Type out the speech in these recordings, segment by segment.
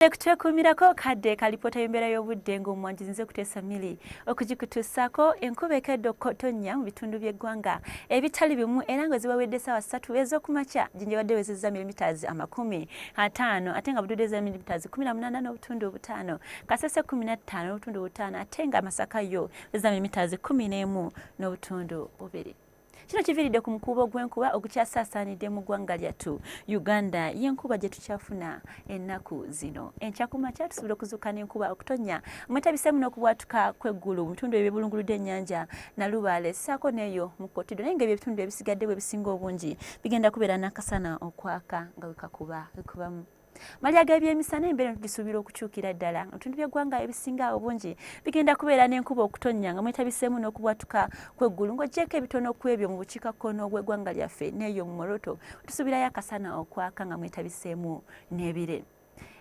Webale kutwekuumirako kadde ka lipoota y'embeera y'obudde ng'omwanji nze kuteesa mili okugikutuusaako enkuba ekedde okutonnya mu bitundu by'eggwanga ebitali bimu era nga zibawedde essaawa ssatu ez'okumakya ginjabadde wezezza milimitaazi amakumi ataano ate nga bududde za milimitaazi kumi na munaana n'obutundu obutaano kasese kumi na ttaano n'obutundu obutaano ate nga masaka yo wezezza milimitaazi kumi n'emu n'obutundu bubiri Kino kiviridde ku mukuubo gw'enkuba ogukyasaasaanidde mu ggwanga lyattu Uganda y'enkuba gye tukyafuna ennaku zino. Enkya ku makya tusobola okuzuuka n'enkuba okutonnya mwetabiseemu n'okubwatuka kw'eggulu mu bitundu ebyo ebibulunguludde ennyanja Nalubaale ssaako n'eyo mu Kotido naye ng'ebyo ebitundu ebisigadde bwe bisinga obungi bigenda kubeera n'akasana okwaka nga wekakuba wekubamu. Malya g'ebyemisana embeera tugisuubira okukyukira ddala nga bitundu by'eggwanga ebisinga obungi bigenda kubeera n'enkuba okutonnya nga mwetabiseemu n'okubwatuka kw'eggulu ng'oggyeeko ebitono ku ebyo mu bukiikakkono bw'eggwanga lyaffe n'eyo mu moroto tusuubirayo akasana okwaka nga mwetabiseemu n'ebire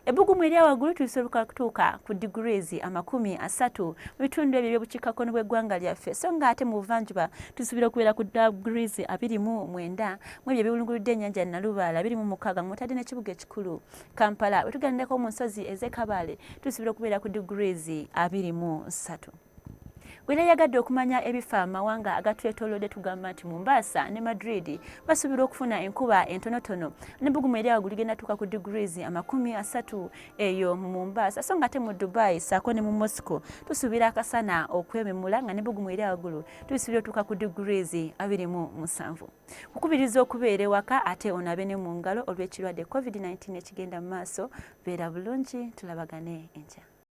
ebbugumu erya waggulu tulisobola kutuuka ku degrees amakumi asatu mu bitundu ebyo eby'obukiikakkono bw'eggwanga lyaffe so nga ate mu buvanjuba tusuubira okubeera ku degrees abiri mu mwenda mu ebyo ebiwulunguludde ennyanja Nalubaala biri mu mukaaga nga mutadde n'ekibuga ekikulu Kampala. Bwe tugendako mu nsozi ez'e Kabale tusuubira okubeera ku degrees abiri mu nsatu. Bwera yagadde okumanya ebifa amawanga agatwetolodde tugamba nti Mombasa ne Madrid basuubirwa okufuna enkuba entonotono nebugumu eri awo guligenda tuuka ku degrees amakumi asatu eyo mu Mombasa so nga ate mu Dubai saako ne mu Moscow tusuubira akasana okwememula nga nebugumu eri awagulu tusuubira otuuka ku degrees abiri mu musanvu. Kukubiriza okubeera ewaka ate onabe ne mu ngalo olw'ekirwadde Covid nineteen ekigenda mu maaso. Beera bulungi tulabagane enkya.